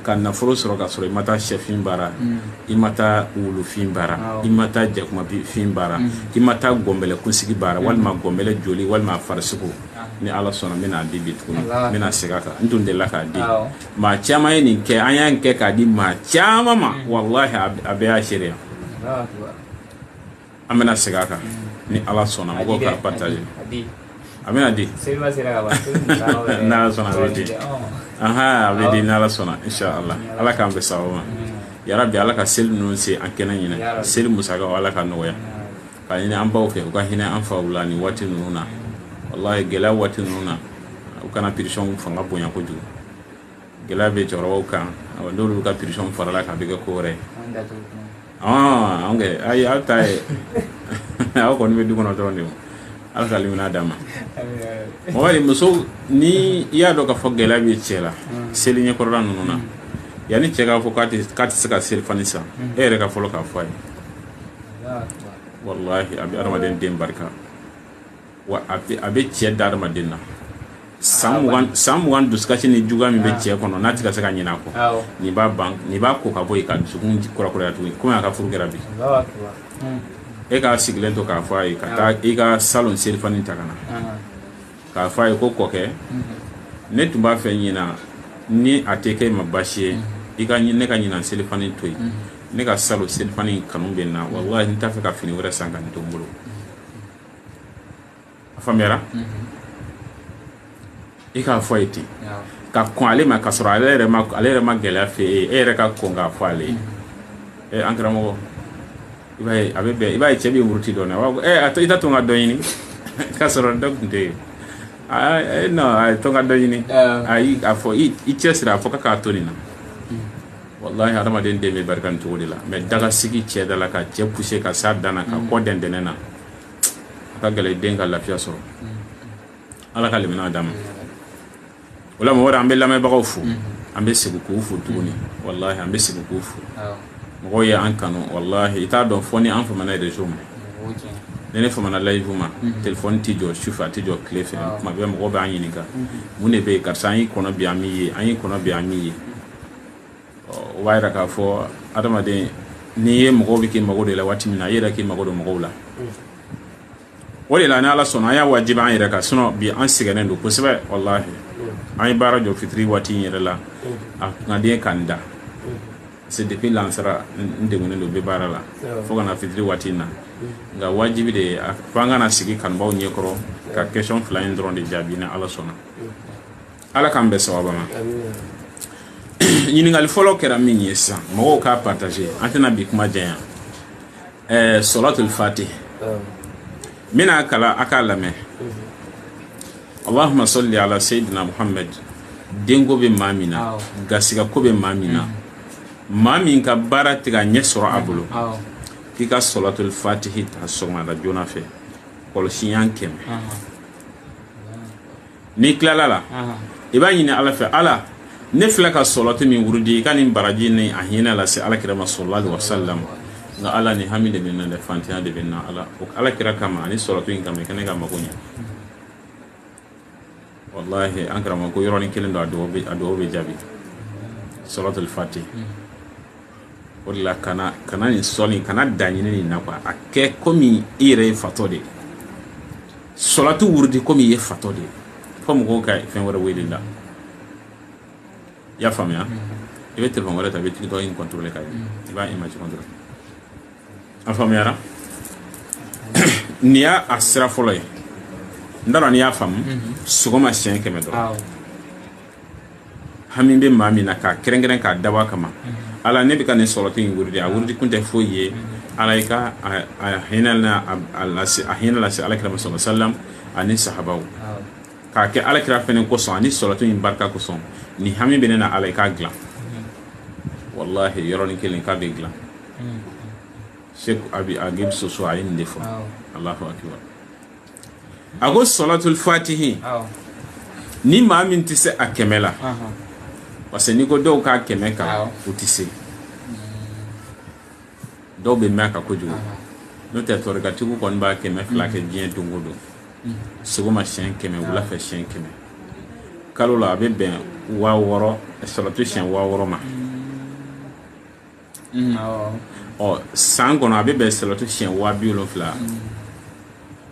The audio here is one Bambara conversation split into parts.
ka nafolo sɔrɔ ka sɔrɔ i ma taa shɛfin baara mm. i ma taa wulufin baara ah, i ma taa jakumafin baara mm. i ma taa gɔnbɛlɛ kunsigi baara mm. walima gɔnbɛlɛ joli walima a farisogo ah. ni ala sɔnna n bɛna di bi tuguni n bɛna segin a kan n tun delila k'a di ah, maa caman ye nin kɛ an y'a kɛ k'a di maa caman ma walahi a bɛɛ y'a seereya an bɛna segin a kan ni ala sɔnna mɔgɔw k'a partager a bɛna di n'ala sɔnna a bɛ di ahan a bɛ di n'ala sɔnna inshallah ala k'an bɛn sababu ma yarabi ala ka seli ninnu se an kɛnɛ ɲɛ na seli musakaw ala k'a nɔgɔya k'a ɲini an baw fɛ u ka hinɛ an faw la nin waati ninnu na walahi gɛlɛya waati ninnu na u kana pression fanga bonya kojugu gɛlɛya bɛ cɛkɔrɔbaw kan n'olu ka pression farala kan a bɛ kɛ ko wɛrɛ ye ayi aw ta ye aw kɔni bɛ du kɔnɔ dɔrɔn de ala ka limaniya d'a ma mɔgɔ muso ni i y'a dɔn k'a fɔ gɛlɛya bɛ cɛ la seli ɲɛkɔrɔla ninnu na yanni cɛ k'a fɔ k'a tɛ se ka seli fani san e yɛrɛ ka fɔlɔ k'a fɔ a ye walahi a bɛ adamaden den barika wa a bɛ a bɛ cɛ da adamaden na san mugan san mugan dusukasi ni juguya min bɛ cɛ kɔnɔ n'a tɛ ka se ka ɲinɛ a kɔ awɔ nin b'a ban nin b'a ko ka bɔ yen k'a dusukun kurakuraya tuguni komi a ka furu kɛra bi Allahu akbar Hmm. e k'a sigilen to k'a fɔ a ye ka taa i ka salon selifani ta ka na Aha. k'a fɔ a ye ko kɔkɛ ne tun b'a fɛ ɲinan ni a tɛ kɛ i ma baasi ye i ka ɲi- ne ka ɲinan selifani to yen ne ka salon selifani in kanu bɛ n na walahi n t'a fɛ ka fini wɛrɛ san ka nin to n bolo a faamuyara i k'a fɔ a ye ten ka kɔn ale ma ka sɔrɔ ale yɛrɛ ma ale yɛrɛ ma gɛlɛya fɔ i ye e yɛrɛ ka kɔn k'a fɔ ale ye an karamɔgɔ i b'a ye a bɛ bɛn i b'a ye cɛ bɛ muruti dɔɔnin a to i t'a to n ka dɔ ɲini k'a sɔrɔ dɔ tun tɛ yen non a ye to n ka dɔ ɲini ayi a fɔ i cɛsiri a fɔ k'a to nin na walahi hadamaden den bɛ barika nin cogo de la mais daga sigi cɛ da la ka cɛ pousser ka s'a dan na k'a kɔ dɛn dɛnɛn na a ka gɛlɛn den ka lafiya sɔrɔ ala ka limaniya d'a ma o la mɔgɔ an bɛ lamɛnbagaw fo an bɛ segin k'u fo tuguni walahi an bɛ segin k'u fo mɔgɔw ye an kanu walahi i t'a dɔn fo ni an famana réseau ma ni ne famana live ma mhm. telefɔni tɛ jɔ sufɛ a tɛ jɔ tile fɛ ah. tuma bɛɛ mɔgɔ bɛ an ɲininka mhm. mun de bɛ yen karisa an y'i kɔnɔ bi an m'i ye an y'i kɔnɔ bi an m'i ye o b'a jira k'a fɔ adamaden n'i ye mɔgɔw bɛ k'u mago don i la waati min na i yɛrɛ k'i mago don mɔgɔw la o de la ni ala sɔnna an y'a wajibi an yɛrɛ kan sinon bi an sɛgɛnnen don kosɛbɛ walahi an ye baara jɔ fitiri waati in yɛrɛ la a kun ka di n ye ka n da c'est depuis lansara n degunnen don n bɛ baara la fo ka na fitiri waati in na nka wajibi de ye a fo an ka na sigi kanubaw ɲɛkɔrɔ ka question fila in dɔrɔn de jaabi ni ala sɔnna ala k'an bɛɛ sababa ma ɲininkali fɔlɔ kɛra min ye sisan mɔgɔw k'a partage an tɛna bi kuma janya ɛɛ sɔlatul fatih n bɛna kalan a k'a lamɛn allahumma salli ala sayyidina muhammad denko bɛ maa min na garisigɛko bɛ maa min na maa min ka baara tɛ ka ɲɛ sɔrɔ a bolo k'i ka sɔlatul fatihi ta sɔgɔmada joona fɛ kɔlɔsi ɲɛ kɛmɛ n'i tilala a la i b'a ɲini ala fɛ ala ne filɛ ka sɔlatu min wurudi i ka nin baraji ni a hinɛ lase ala kira ma sallallahu alayhi wasallam nka ala nin hami de bɛ n na dɛ faantanya de bɛ n na ala o ala kira kama ani sɔlatu in kama i ka ne ka mago ɲɛ walahi an karamɔgɔ ko yɔrɔnin kelen don a duwawu bɛ jaabi sɔlatul fati o de la kana kana nin sɔli kana daɲini nin na quoi a kɛ komi i yɛrɛ ye fatɔ de ye sɔlatu wurudi komi i ye fatɔ de ye fo mɔgɔw ka fɛn wɛrɛ wele i la i y'a faamuya i bɛ telefɔni wɛrɛ ta i bɛ TikTok in kɔntɔrɔle ka ye i b'a imaji kɔntɔrɔle a faamuyara nin y'a sira fɔlɔ ye n t'a dɔn n'i y'a faamu sɔgɔma siɲɛ kɛmɛ dɔrɔn hami bɛ maa min na k'a kɛrɛnkɛrɛn k'a dabɔ a kama ala ne bɛ ka nin sɔlatu in wurudi a wurudi kun tɛ foyi ye ala i ka hinɛ a hinɛ lase ala kira ma sallallahu alayhi wasallam ani sahabaw k'a kɛ ala kira fana kosɔn ani sɔlatu in barika kosɔn nin hami bɛ ne na ala i k'a dilan walahi yɔrɔnin kelen k'a bɛ dilan Sɛki Abi Agibu Soso a ye nin de fɔ allahu akbar a ko sɔlatul fatihi ni maa min tɛ se a kɛmɛ la parce que n'i ko dɔw k'a kɛmɛ kalan u tɛ se dɔw bɛ mɛn a kan kojugu n'o tɛ tɔrikatigiw kɔni b'a kɛmɛ fila kɛ diɲɛ don o don sɔgɔma siɲɛ kɛmɛ wula fɛ siɲɛ kɛmɛ kalo la a bɛ bɛn waa wɔɔrɔ salatu siɲɛ waa wɔɔrɔ ma Mm, ɔ san kɔnɔ a bɛ bɛn salatu siɲɛ waa bi wolonfila mm.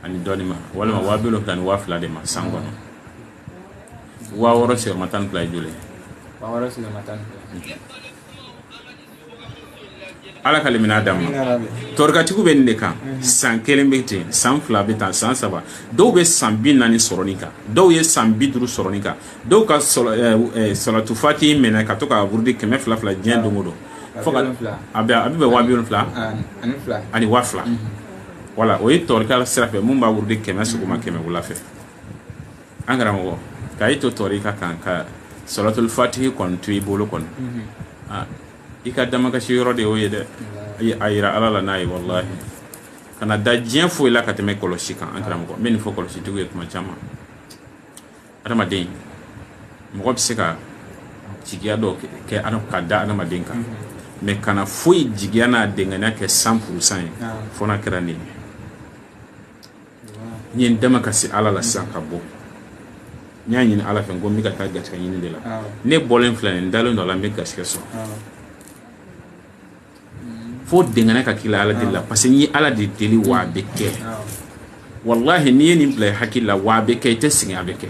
ani dɔɔni ma walima waa bi wolonfila ni waa fila de ma san kɔnɔ mm. waa wɔɔrɔ sigiyɔrɔma tan ni fila ye joli ye waa wɔɔrɔ sigiyɔrɔma tan ni fila ala ka limaniya d'an ma tɔrikatigiw bɛ nin de kan mm-hmm. san kelen bɛ ten san fila bɛ ten san saba dɔw bɛ san bi naani sɔrɔ nin kan dɔw ye san bi duuru sɔrɔ nin kan dɔw ka salatul fati minɛ ka to k'a wurudi kɛmɛ fila fila diɲɛ don don fo a a bɛ bɛn waa bi wolonfila ani waa fila wala o ye tɔrika sira fɛ min b'a wurudi kɛmɛ sɔgɔma kɛmɛ wula fɛ an karamɔgɔ k'i to tɔrika kan ka salatul fati kɔni to i bolo kɔnɔ i ka damakasi yɔrɔ de y'o ye dɛ a jira ala la n'a ye walahi kana da diɲɛ foyi la ka tɛmɛ kɔlɔsi kan an karamɔgɔ tun bɛ nin fɔ kɔlɔsitigiw ye tuma caman adamaden mɔgɔ bɛ se ka jigiya dɔ kɛ ka da adamaden kan mais kana foyi jigiya n'a dɛngɛnɛya kɛ cent pour cent ye fo n'a kɛra nin ye n ye n damakasi ala la sisan ka bɔ n y'a ɲini ala fɛ n ko n bɛ ka taa garisɛgɛ ɲini de la ne bɔlen filɛ nin n dalen don a la n bɛ garisɛgɛ sɔrɔ fo dɛngɛnɛya ka k'i la ala deli la parce que n ye ala de deli wa a bɛ kɛ walahi n'i ye nin bila i hakili la wa a bɛ kɛ i tɛ sɛgɛn a bɛ kɛ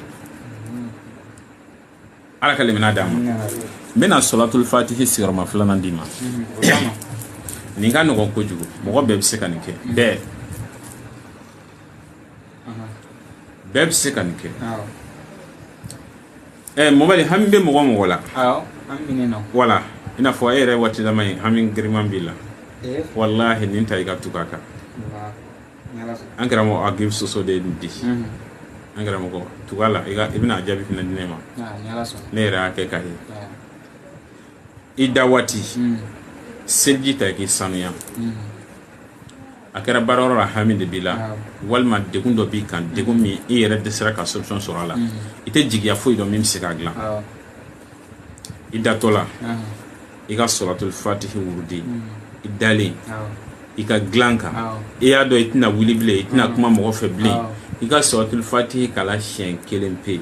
ala ka limaniya d'an ma n bɛna salatul fatihi sigiyɔrɔma filanan d'i ma nin ka nɔgɔn kojugu mɔgɔ bɛɛ bɛ se ka nin kɛ bɛɛ bɛɛ bɛ se ka nin kɛ ɛɛ mɔbali hami bɛ mɔgɔ mɔgɔ la wala i n'a fɔ e yɛrɛ waati dama ye hami giriman b'i la eh? walahi nin ta i ka tugu a kan an karamɔgɔ agib soso de ye nin di mhm. an karamɔgɔ tugu a la i bɛna a jaabi fana di ne ma ne yɛrɛ y'a kɛ k'a ye i da waati mhm. seliji ta i k'i sanuya mhm. a kɛra baarayɔrɔ la hami de b'i la walima degun dɔ b'i kan degun min i yɛrɛ dɛsɛra ka solution sɔrɔ a la i tɛ jigiya foyi dɔn min bɛ se k'a dilan i datɔ la i ka salatul fatihi wurudi i dalen i ka dilan kan i y'a dɔn i tɛna wuli bilen i tɛna kuma mɔgɔ fɛ bilen i ka salatul fatihi kalan siɲɛ kelen pe yen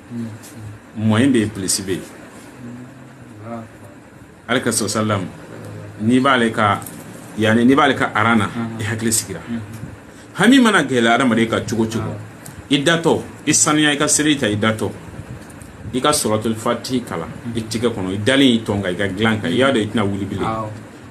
mɔ in de ye plɛsi bɛ ye ala kira sallallahu alaihi wasallam n'i b'ale ka yanani n'i b'ale ka aran na i hakili sigira hami mana gɛlɛya adamaden kan cogo cogo i datɔ i sanuya i ka seliji ta i datɔ i ka salatul fatihi kalan i tɛgɛ kɔnɔ i dalen i tɔn kan i ka dilan kan i y'a dɔn i tɛna wuli bilen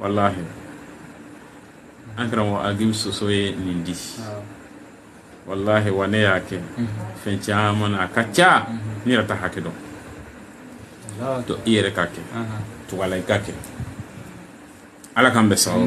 walahi an karamɔgɔ agib soso ye nin di walahi wa ne y'a kɛ fɛn caman na a ka ca ne yɛrɛ t'a hakɛ dɔn to i yɛrɛ k'a kɛ tugu a la i k'a kɛ ala k'an bɛɛ sababu